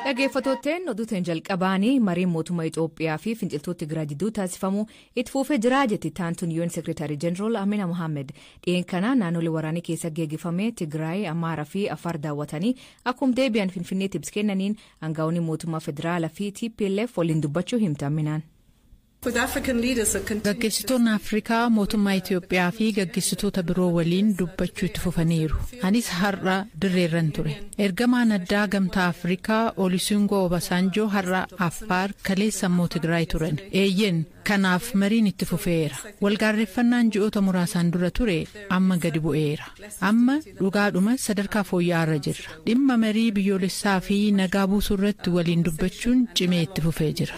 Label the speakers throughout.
Speaker 1: Dhaggeeffattootteen oduuteen jalqabaanii mariin mootummaa Itoophiyaa fi finciltoota Tigraay jidduu taasifamu itti fufee jiraa jetti taantuun UN Seekreetarii Jeneraal Amina Mohaammed. Dhiyeen kana naannolee waraanii keessa geegifame Tigraay, Amaaraa fi Afaar daawwatanii akkuma deebi'an Finfinneetti ibsa kennaniin Angawoonni mootummaa federaala fi TPLF waliin dubbachuu himte Amminaan.
Speaker 2: Gaggeessitoonni Afrikaa mootummaa Itiyoophiyaa fi gaggeessitoota biroo waliin dubbachuu itti fufaniiru. Anis har'a dirreerran ture. Ergamaan addaa Gamtaa Afrikaa Olisungoo Obasaanjoo har'a Affaar kaleessa immoo Tigraay turan. Eeyyeen Kanaaf mariin itti fufeera. Walgaarreffannaan ji'oota muraasaan dura ture amma gadi bu'eera. Amma dhugaadhuma sadarkaa fooyya'aarra jirra. Dhimma marii biyyoolessaa fi nagaa buusuu irratti waliin dubbachuun cimee itti fufee jira.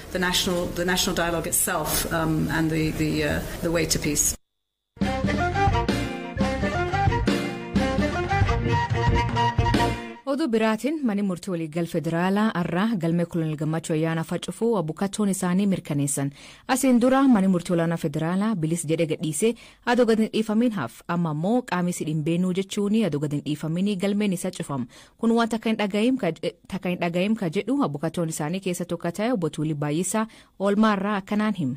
Speaker 1: Oduu biraatiin manni murtii waliigal federaalaa har'aa galmee kolonel gammachuu ayyaanaa facufuu abukattoon isaanii mirkaneessan. Asiin dura manni murtii olaanaa federaalaa bilis jedhee gadhiisee adoo gad hin dhiifamiin haf amma immoo qaamisi dhimbeenuu jechuun adoo gad hin dhiifamiin galmeen isa cufam. Kun waan takka hin dhaga'iim ka- eh, takka hin dhaga'iim ka jedhu abukattoon isaanii keessa tokko ta'e obbo Tuulii Baay'isaa oolmaa irraa akkanaan hima.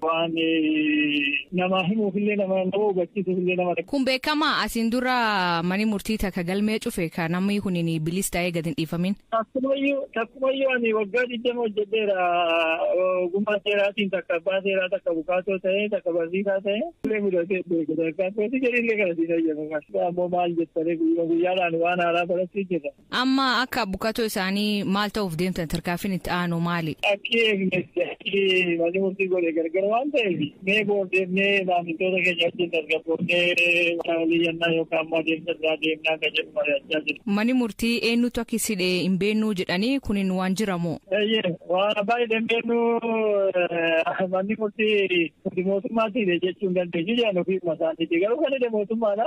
Speaker 3: Waan namaa himuuf illee nama nama hubachiisuuf illee nama. Kun beekama asiin
Speaker 1: dura mani murtii takka galmee cufe kan namni kun bilis ta'ee gad hin dhiifamin. Takkumayyuu takkumayyuu
Speaker 3: ani waggaa digdama hojjedheera ogummaa seeraatiin takka abbaa seeraa takka bukaatoo ta'ee takka barsiisaa ta'ee illee mudatee beeku takka akkasii jedhee illee kana siin hayyama ammoo maal jettanii guyyaa guyyaadhaan waan haaraa barachuu jirra. Amma akka
Speaker 1: abbukatoo isaanii maal ta'uuf deemtan tarkaanfiin itti aanu maali? Akki eegnetti
Speaker 3: akki manni murtii godhe gargar waan ta'eef mee boordeemnee maamiltoota keenya wajjin tasgabboofnee walii yannaa yookaan immoo adeemsa biraa deemnaa kan jedhu mari'achaa jiru. Manni murtii eenyutu
Speaker 1: akki sidhe hin beennuu jedhanii kunin waan jiramoo? Eeyyee waan abbaa
Speaker 3: hidhan beennuu manni murtii mootummaatti hidhe jechuun dandeenyu jedhan ofii masaaniiti garuu kan hidhe mootummaadha.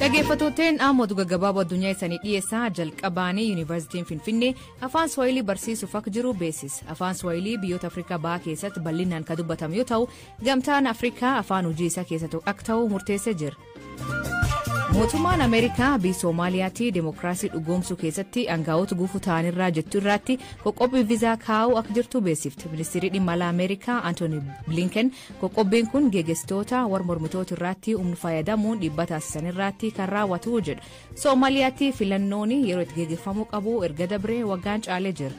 Speaker 1: Dhaggeeffattootteen dhaamotu gaggabaaboo addunyaa isaanii dhiyeessaa jalqabaanii yuunivarsiitiin Finfinnee afaan Swahilii barsiisuuf akka jiru beeksisa. Afaan Swahilii biyyoota Afrikaa bahaa keessatti bal'inaan kan dubbatamu yoo ta'u, gamtaan Afrikaa afaan hojii isaa keessatti akka ta'u murteessee jira. Mootummaan Ameerikaa biyya Somaaliyaatti demokiraasii dhugoomsuu keessatti aangaa'ota gufuu ta'anirraa jettu irraatti qoqqobbii viizaa kaa'uu akka jirtu beeksifte. Ministeerri dhimma alaa Ameerikaa Antooni Blinken qoqqobbiin kun geggeessitoota warra mormitoota irraatti humna fayyadamuun dhiibbaa taasisan irraatti kan raawwatu jedha. Somaaliyaatti filannoon yeroo itti geggeeffamuu qabu erga dabree waggaan caalee jira.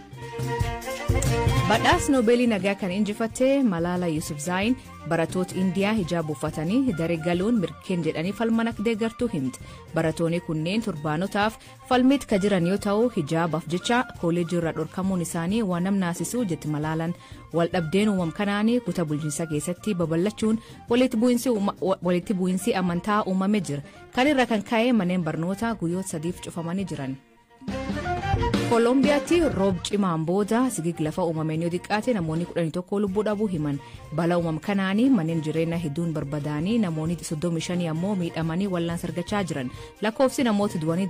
Speaker 1: Badhaas Noobeelii nagaa kan injifatte Malaala Yusuf Zaayin Baratoot Indiyaa hijaab uffatanii dare galuun mirkeen jedhanii falman akka deeggartuu himte. Baratooni kunneen turbaanotaaf falmiit ka jiran yoo ta'u hijaabaaf jecha kooleejii irraa dhorkamuun isaanii waan nam naasisuu jetti malaalan. Waldhabdeen uumam kanaanii kuta bulchiinsa keessatti babal'achuun walitti bu'iinsi amantaa uumame jira. Kan irra kan ka'e manneen barnootaa guyyoota sadiif cufamanii jiran. koolombiyaatti roob cimaan booda sigig lafa uumameen yoo xiqqaate namoonni 11 lubbuu dhabuu himan bala uumam kanaanii manneen jireenya hedduun barbadaanii namoonni 35 ammoo miidhamanii wallaansa argachaa jiran lakkoofsi namoota du'anii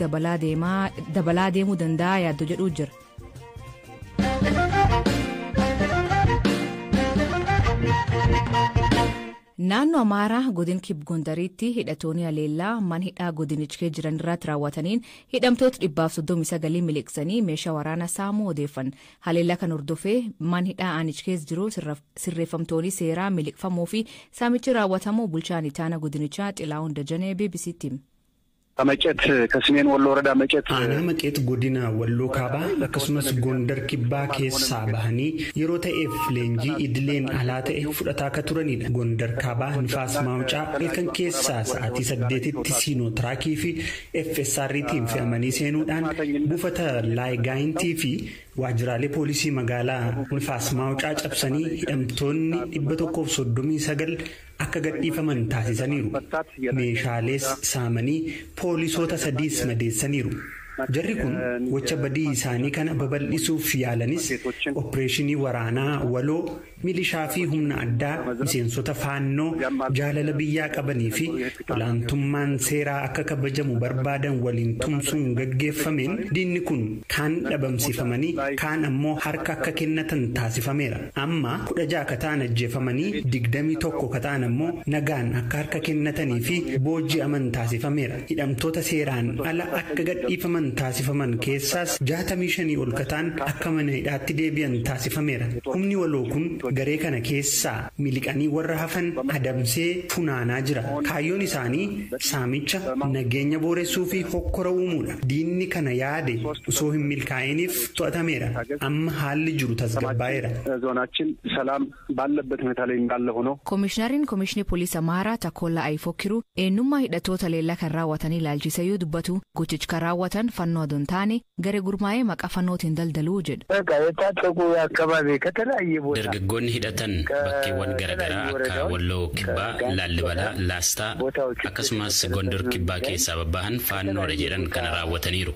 Speaker 1: dabalaa deemuu danda'a yaaddo jedhuu jira. Naannoo Amaaraa godin Kib Gondariitti hidhatooni haleellaa man hidhaa godinichkee jiran irraatti raawwataniin hidhamtoot 139 miliqsanii meeshaa waraana saamuu odeeffan. Haleellaa kan hordofee man hidhaa aanichkees jiru sirreeffamtooni seeraa miliqfamuu fi saamichi raawwatamuu bulchaan itaana godinichaa Xilaahun Dajanee BBC'tti hime. a Mecet
Speaker 4: ka Simeen Wollo Worada Mecet. Aanaa Maqeet Godina
Speaker 5: Walloo Kaabaa akkasumas Gondar Kibbaa keessaa bahanii yeroo ta'eef leenjii idileen alaa ta'e fudhataa ka turanidha. Gondar Kaabaa Nifaas Maawucaa halkan keessaa sa'aatii 8tti Siinoo Tiraakii fi FSRtiin fe'amanii seenuudhaan buufata Laay Gaayintii fi waajjiraalee poolisii magaalaa Nifaas Maawucaa cabsanii hidhamtoonni 139 akka gadhiifaman taasisaniiru. Meeshaalees saamanii poolisoota sadiis madeessaniiru. Jarri kun gocha badii isaanii kana babal'isuuf yaalanis oppireeshinii waraanaa waloo milishaa fi humna addaa miseensota Faannoo jaalala biyyaa qabanii fi olaantummaan seeraa akka kabajamu barbaadan waliin tumsuun gaggeeffameen diinni kun kaan dhabamsiifamanii kaan ammoo harka akka kennatan taasifameera. Amma 16 ka ta'an ajjeefamanii 21 ka ta'an ammoo nagaan akka harka kennatanii fi booji'aman taasifameera. Hidhamtoota seeraan ala akka gadhiifaman taasifaman keessaas 65 ol ka ta'an akka mana hidhaatti deebi'an taasifameera. Humni waloo kun garee kana keessaa miliqanii warra hafan adamsee funaanaa jira. Kaayyoon isaanii saamicha, nageenya booressuu fi hokkora uumuudha. Diinni kana yaade osoo hin milkaa'iiniif to'atameera. Amma haalli jiru tasgabbaa'eera. Zoonaachiin
Speaker 4: salaam baallabbat hunetaa lay indaalla hono. Komishinariin Komishinii
Speaker 1: Poliis Amhaaraa Takoollaa Ayifokkiruu eennummaa hidhattoota haleellaa kan raawwatanii ilaalchisee yoo dubbatu gochichi kan raawwatan fannoo adoo hin taane garee gurmaa'ee maqaa fannootiin daldalu jedhu.
Speaker 6: Dargaggoonni hidhatan bakkeewwan garaagaraa akka Walloo Kibbaa, Laallibalaa, Laastaa akkasumas Gondor Kibbaa keessaa babbahan faannoodha jedhan kana raawwataniiru.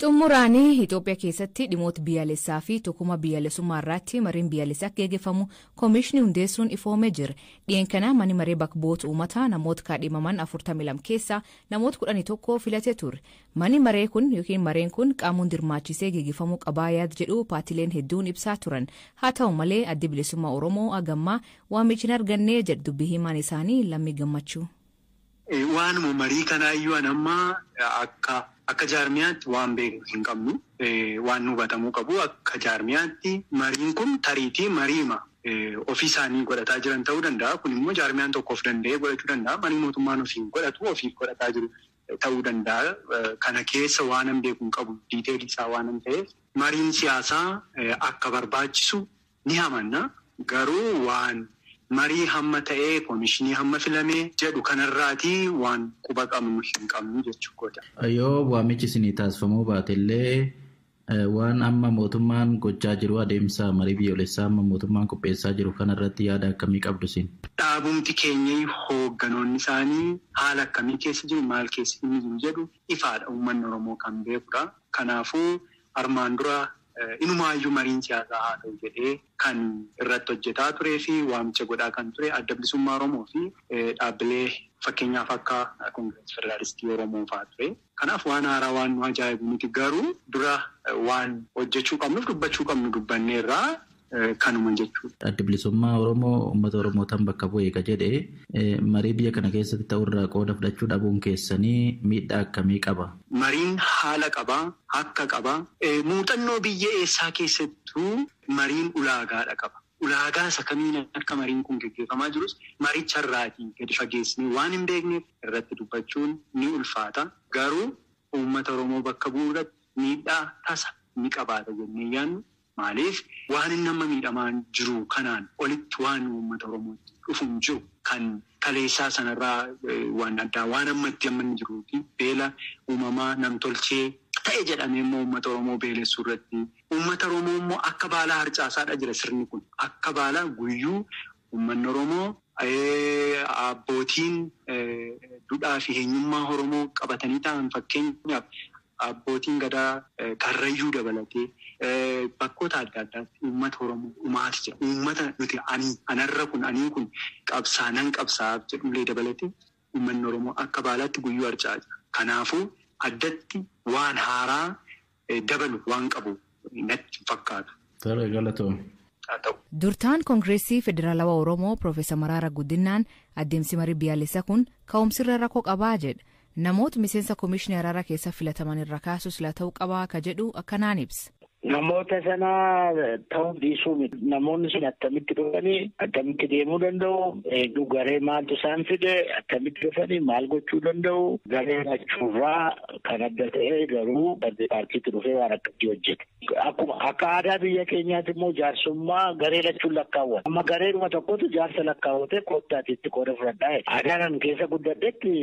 Speaker 1: Xumuraan Itoophiyaa keessatti dhimoota biyyaalessaa fi tokkummaa biyyaalessummaa irratti mariin biyyaalessaa akka gaggeeffamu koomiishinii hundeessuun ifoomee jira. Dhiyeenya kana manni maree bakka bu'oota uummataa namoota kaadhimaman 42 keessaa namoota 11 filatee ture. Mani maree kun ykn mareen kun qaamuun dirmaachisee gegefamuu qabaa yaad jedhuu paatileen hedduun ibsaa turan. Haa ta'u malee Addi Bilisummaa Oromoo agammaa waamiich hin argannee jedh dubbi hiimaan isaanii Lammii Gammachuu. Waanuma
Speaker 7: marii kanaa iyyuu an amma akka akka jaarmiyaatti waan beeknu hin qabnu. Waanni hubatamuu qabu akka jaarmiyaatti mariin kun tariitii mariima ofii isaanii godhataa jiran ta'uu danda'a. Kun immoo jaarmiyaan tokko of danda'ee godhachuu danda'a. Marii mootummaan ofiin godhatu ofiif godhataa jiru. ta'uu danda'a. Kana keessa waanan beeku hin qabu, detail isaa waanan ta'eef. Mariin siyaasaa akka barbaachisu ni amanna. Garuu waan marii hamma ta'ee, komishinii hamma filame jedhu kanarraati waan quba qabnu hin qabnu jechuu kooti. Yoo waamichi
Speaker 8: isinii taasifamuu baatellee Waan amma mootummaan gochaa jiru, adeemsa marii biyyoolessaa amma mootummaan qopheessaa jiru kana irratti yaada akkamii qabdu isin? Dhaabumti keenyai
Speaker 7: hoogganoonni isaanii haala akkamii keessa jiru, maal keessa inni jiru jedhu ifaadha, uummanni Oromoo kan beekudha. Kanaafuu armaan dura inumaayyuu mariin siyaasaa haa ta'u jedhee kan irratti hojjetaa turee fi waamicha godhaa kan ture Adda Bilisummaa Oromoo fi dhaabbilee fakkeenyaaf akka Kongirasii Federaalistii Oromoo fa'aa ture. Kanaaf waan haaraa waan nu ajaa'ibu miti. Garuu dura waan hojjechuu qabnuuf dubbachuu qabnu dubbanneerra. Kanuma jechuudha. Addi Bilisummaa Oromoo
Speaker 8: ummata Oromootan bakka bu'e ka jedhe marii biyya kana keessatti ta'u irraa qooda fudhachuu dhabuun keessanii miidhaa akkamii qaba? Mariin haala
Speaker 7: qaba, hakka qaba. Muuxannoo biyya eessaa keessattuu mariin ulaagaadha qaba. Ulaagaa isa kamiin akka mariin kun geggeefamaa jirus maricha irraatii gadi fageessinee waan hin beekneef irratti dubbachuun ni ulfaata. Garuu uummata Oromoo bakka bu'uu irratti miidhaa tasa ni qabaata jennee hin yaadnu. Maaliif waan inni amma miidhamaa jiru kanaan olitti waan uummata Oromootti dhufu hin jiru. Kan kaleessaa sana irraa waan addaa waan ammatti amma inni jiruuti. Beela uumamaa, nam-tolchee, ta'e jedhamee immoo uummata Oromoo beelessuu irratti. Uummata Oromoo immoo akka baalaa harcaasaadha jira sirni kun. Akka baalaa guyyuu uummanni Oromoo, abbootiin dudhaa fi heenyummaa Oromoo qabatanii taa'an fakkeenyaaf abbootiin gadaa Karrayyuu dabalatee bakkoota adda addaatti uummata Oromoo dhumaati jira. Uummata nuti ani anarra kun anii kun qabsaa nan qabsaa'aaf jedhullee dabalatee Uummanni Oromoo akka baalaatti guyyuu harca'aa jira. Kanaafuu addatti waan haaraa dabalu waan qabu natti hin fakkaatu. Tole galatoomi.
Speaker 8: Haa ta'u. Durtaan
Speaker 1: Kongiressii Federalawa Oromoo Professor Maraara Gudinnaan addemsi marii biyaalessa kun ka'umsirra rako qabaa jedha. Namoot miseensa Komishni Arara keessa filataman irra kaasu sila ta'u qabaa ka jedhu akkanaan ibsa. Namoota sana
Speaker 9: ta'uuf dhiisuu miti. Namoonni sun akkamitti dhufanii akkamitti deemuu danda'u? Eeguu garee maaltu isaan fide? Akkamitti dhufanii maal gochuu danda'u? Garee lachuurraa kan adda ta'e garuu badde paartiitti dhufee waan akkatti hojjete. Akkuma akka aadaa biyya keenyaatti immoo jaarsummaa garee lachuun lakkaawwata. Amma gareedhuma tokkotu jaarsa lakkaawwatee koottaati itti qooda fudhadhaa. Aadaan ani keessa guddadhetti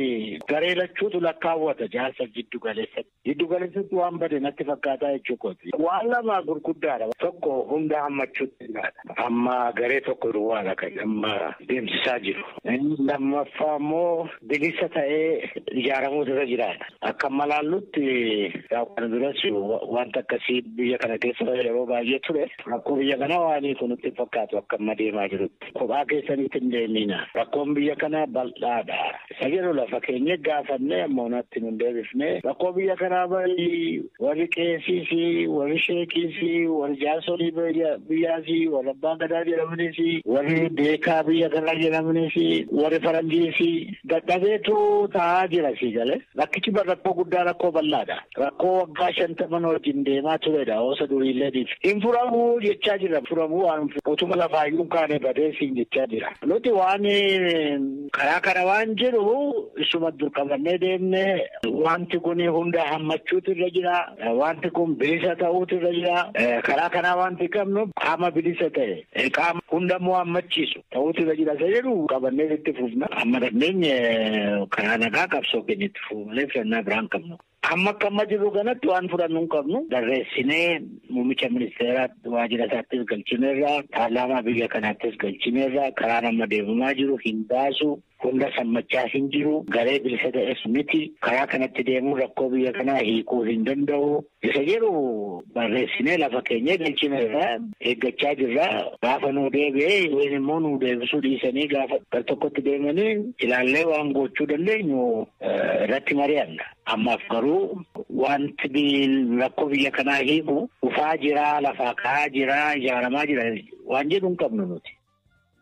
Speaker 9: garee lachuutu lakkaawwata jaarsa jiddu galeessatti. Giddu galeessatti waan bade natti fakkaataa jechuu kooti. Waan lama gurguddaadha. Tokko hunda hammachuutti ilaala. Amma garee tokko duwwaadha kan amma deemsisaa jiru. Inni lammaffaa immoo bilisa ta'ee ijaaramuutu irra jiraata. Akka amma laallutti yaa kana duras wanta akkasii biyya kana keessa yeroo baay'ee ture. Rakkoo biyya kanaa waan hiiku nutti hin fakkaatu akka amma deemaa jirutti. kophaa keessanitti hin deemina. Rakkoon biyya kanaa bal'aadha. Isa jedhu lafa keenye gaafannee amma onaatti nun deebifne. Rakkoo biyya kanaa barii warri qeesiis, warri sheekiis, warri jaarsolii biyyaas, warri abbaan gadaa jedhamanis, warri beekaa biyya kanaa jedhamanis, warri faranjiis dadhabeetu taa'aa jira sii galee. Rakkichi rakkoo guddaa rakkoo bal'aadha. Rakkoo waggaa shantaman wajjin deemaa turedha oosa duriilleetiif. Hin furamu jechaa jira. Furamu waan utuma lafaayyuu hin kaane badee siin jechaa jira. Nuti waan karaa kana waan jiru isuma dur qabannee deemne wanti kun hunda hammachuutu irra jira. Wanti kun bilisa ta'uutu irra jira. Karaa kanaa wanti qabnu qaama bilisa ta'e qaama hundamuu hammachiisu. Ta'uutu irra jira isa jedhu qabannee itti fufna. Amma dandeenye karaa nagaa qabsoo keenya itti fufuu malee filannaa biraa hin qabnu. Amma akka amma jirru kanatti waan fudhannu hin qabnu. Barreessinee muummicha ministeeraa waajjira isaattis galchineerra. Paarlaamaa biyya kanaattis galchineerra. Karaan amma deemamaa jiru hin baasu. Hunda sammachaa hin jiru. Garee bilisa ta'es miti. Karaa kanatti deemuun rakkoo biyya kanaa hiikuu hin danda'u. Isa jedhu barreessinee lafa keenyee galchineerra eeggachaa jirra. Gaafa nuu deebi'ee yookiin immoo nuu deebisuu dhiisanii gaafa gar tokkotti deemanii ilaallee waan gochuu dandeenyu irratti mari'anna. Ammaaf garuu wanti rakkoo biyya kanaa hiiku dhufaa jiraa lafaa ka'aa jiraa ijaaramaa jira waan jedhu hin qabnu nuti.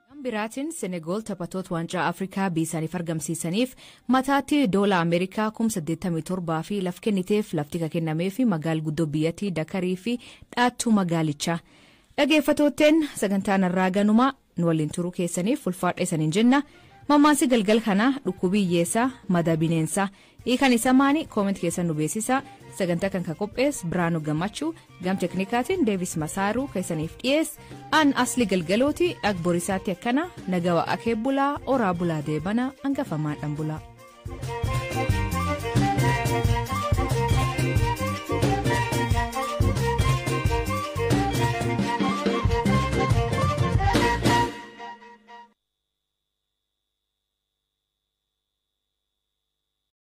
Speaker 9: Gama biraatiin
Speaker 1: Senegool taphatoota Waancaa Afrikaa biyyisaaniif argamsiisaniif mataatti Doola Ameerikaa kum 87 fi laf kenniteef lafti ka kennameefi magaal guddoo biyyatii Dakarii fi dhaattuu magaalichaa. Dhageeffatootteen sagantaa narraa ganuma nu waliin turuu keessaniif ulfaadha isaniin jenna. Mammaansi galgal kanaa dhukkubii hiyyeessaa madaa bineensaa Hiikan isa maani comment keessan nu beeksisa sagantaa kan ka qophees Biraanu Gammachu gam teknikaatiin Deevis Masaaru keessaniif dhiyees an asli galgalooti dhag borisaatti akkana nagawa akee bulaa oraa bulaa deebana angafamaadhan bulaa.